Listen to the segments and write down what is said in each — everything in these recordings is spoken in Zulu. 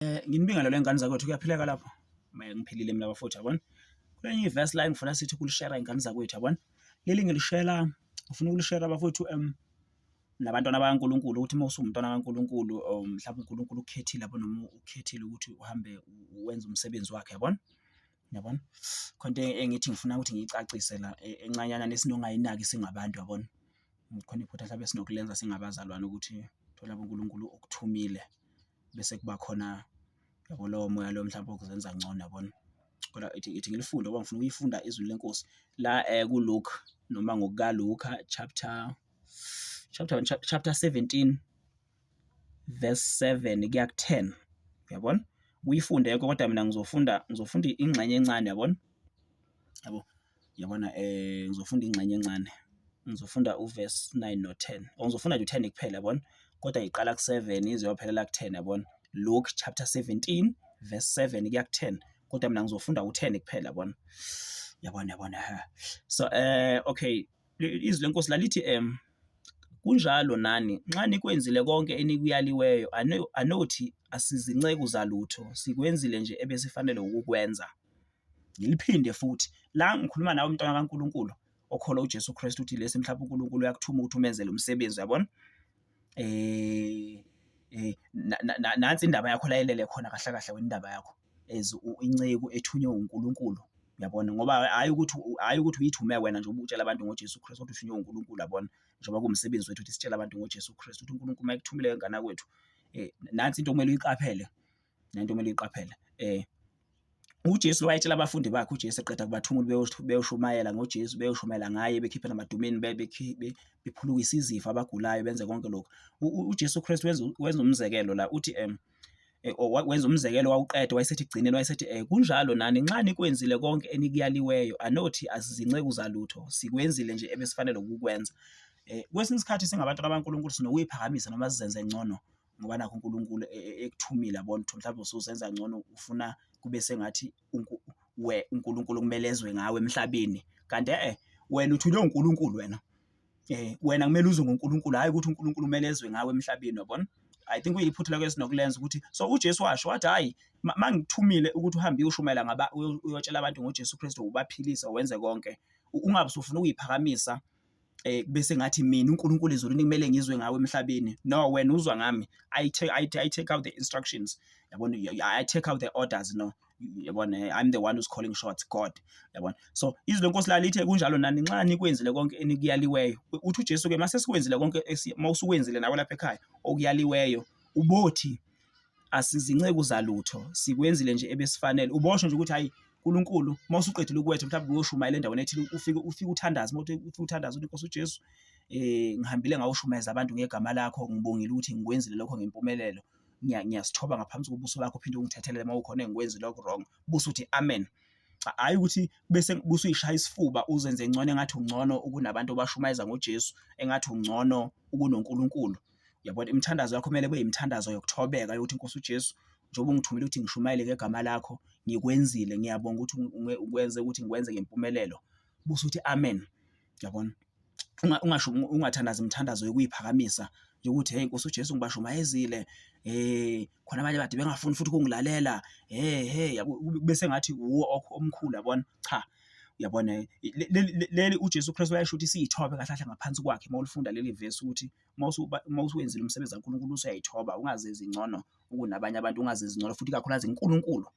Eh nginibingelele ingane zakwethu kuyaphileka lapho. Maye ngiphilile mina bafowethu yabona. Kulenye iverse line ngifuna sithi kulishare ingane zakwethu yabona. Leli ngilishela ngifuna ukulishare bafowethu em nabantwana bakaNkuluNkulu ukuthi uma usumntwana kaNkuluNkulu oh, mhlawumbe uNkuluNkulu ukhethile yabo noma ukhethile ukuthi uhambe wenze umsebenzi wakhe yabona. Yabona? Khonto e-, engithi ngifuna ukuthi ngiyicacise la e-, encanyana nesinongayinaki singabantu yabona. Khona iphutha mhlawumbe esinokulenza singabazalwane ukuthi thola uNkuluNkulu okuthumile. bese kuba khona yabo lowo moya loyo mhlawumbe okuzenza ngcono yabona. Kodwa ithi ithi ngilifunde ngoba ngifuna ukuyifunda izwi leNkosi la kuLuke noma ngokukaLuka chapter chapter one chapter seventeen verse seven kuya ku-ten uyabona uyifunde yonke kodwa mina ngizofunda ngizofunda ingxenye encane yabona yabo. Yabona ngizofunda ingxenye encane, ngizofunda u-verse nine no-ten or ngizofunda nje u-ten kuphela yabona, kodwa iqala ku-seven ize iyophelela ku-ten yabona. Luke chapter seventeen verse seven kuya ku-ten, kodwa mina ngizofunda u-ten kuphela yabona, yabona, yabona hha. So okay, izwi leNkosi lalithi kunjalo nani nxa nikwenzile konke enikuyaliweyo, anothi asizinceku zalutho, sikwenzile nje ebesifanele ukukwenza. Ngiliphinde futhi la ngikhuluma nawe umntwana kaNkulunkulu okholwa uJesu Kristu uthi lesi mhlawumbe uNkulunkulu uyakuthuma ukuthi umenzele umsebenzi uyabona eh eh nansi indaba yakho layelele khona kahle kahle wena indaba yakho as inceku ethunywe uNkulunkulu yabona ngoba hayi ukuthi hayi ukuthi uyithume wena nje ubutshela abantu ngoJesu Kristu ukuthi uthunywe uNkulunkulu yabona njengoba kuwumsebenzi wethu ukuthi sitshele abantu ngoJesu Kristu ukuthi uNkulunkulu mayekuthumile ngana kwethu eh nansi into okumele uyiqaphele nento kumele uyiqaphele eh uJesu wayetshela abafundi bakhe uJesu eqeda kubathumula beyoshumayela ngoJesu beyoshumayela ngaye bekhiphe namadumeni bephulukisa izifo abagulayo benze konke lokho uJesu Kristu wenza umzekelo la uthi um Eh, wenza umzekelo wawuqeda wayesethi gcineni wayesethi um kunjalo nani nxa nikwenzile konke enikuyaliweyo anothi asizinceku zalutho sikwenzile nje ebesifanele ukukwenza um kwesinye isikhathi singabantu abankulunkulu sinokuyiphakamisa noma sizenze ngcono ngoba nakhu uNkulunkulu ekuthumile yabona ukuthi mhlawumbe usuzenza ngcono ufuna kube sengathi uNkulunkulu kumele ezwe ngawe emhlabeni kanti e-e wena uthunywe uNkulunkulu wena. Wena kumele uzwe ngoNkulunkulu hhayi ukuthi uNkulunkulu kumele ezwe ngawe emhlabeni yabona. I think kuyiphutha lelo esinokulenza ukuthi so uJesu washo wathi hhayi uma ngikuthumile ukuthi uhambe uyoshumayela ngaba uyotshela abantu ngoJesu Kristu ubaphilise wenze konke ungabe usufuna ukuyiphakamisa eh bese ngathi mina uNkulunkulu ezulwini kumele ngizwe ngawe emhlabeni no wena uzwa ngami i take i, I take out the instructions yabona i take out the orders no yabona eh, i'm the one who's calling shots god yabona so izwi lenkosi lalithe kunjalo nani nxa nikwenzile konke enikuyaliweyo uthi uJesu ke mase sikwenzile konke mawusukwenzile nawe lapha ekhaya okuyaliweyo ubothi asizinceku zalutho sikwenzile nje ebesifanele ubosho nje ukuthi hayi uNkulunkulu uma usuqedile ukuwetha mhlawumbe uyoshumayela endaweni ethile ufike ufike uthandaze uma ufike uthandaze uthi Nkosi uJesu eh ngihambile ngawushumayeza abantu ngegama lakho ngibongile ukuthi ngikwenzile lokho ngempumelelo ngiyasithoba ngaphansi kobuso bakho phinde ungithethelele uma ukhona engikwenzi lokho wrong buso uthi amen hayi ukuthi bese buso uyishaya isifuba uzenze ngcono engathi ungcono ukunabantu obashumayeza ngoJesu engathi ungcono ukunoNkulunkulu Yabona imithandazo yakho kumele kube imithandazo yokuthobeka yokuthi inkosi uJesu njengoba ungithumile ukuthi ngishumayele ngegama lakho ngikwenzile ngiyabonga ukuthi ukwenze ukuthi ngikwenze ngempumelelo busa uthi amen yabona ungasho ungathandaza imithandazo yokuyiphakamisa yokuthi hey Nkosi uJesu ngibashumayezile eh khona abanye bade bengafuni futhi ukungilalela hey hey bese ngathi uwo omkhulu yabona cha uyabona leli uJesu Kristu wayesho ukuthi siyithobe kahle kahle ngaphansi kwakhe uma ulifunda leli verse ukuthi uma usuwenzile umsebenzi kaNkulunkulu usuyayithoba ungazizwa ngcono kunabanye abantu, ungazizwa ngcono futhi ikakhulukazi kuNkulunkulu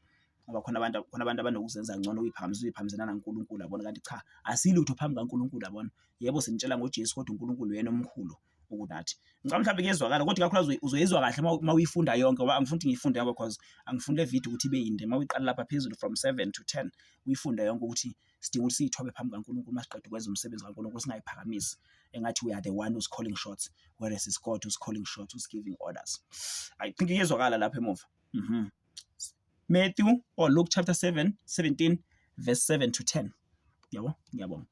ngoba khona abantu khona abantu abanokuzenza ngcono uyiphakamise uyiphakamisela naNkulunkulu yabona kanti cha asilutho phambi kaNkulunkulu yabona. Yebo sinitshela ngoJesu kodwa uNkulunkulu uyena omkhulu kunathi. Ngicabanga mhlawumbe kuyezwakala kodwa ikakhulukazi uzoyizwa kahle uma uyifunda yonke ngoba angifuni ukuthi ngiyifunde yonke cause angifuni le video ukuthi ibe yinde uma uyiqala lapha phezulu from seven to ten uyifunde yonke ukuthi sidinga ukuthi siyithobe phambi kaNkulunkulu uma siqeda ukwenza umsebenzi kaNkulunkulu singayiphakamisi engathi we are the one who's calling shots whereas it's God who's calling shots who's giving orders i think iyezwakala lapha emuva mhm Matthew or Luke chapter 7 17 verse 7 to 10 yabo ngiyabonga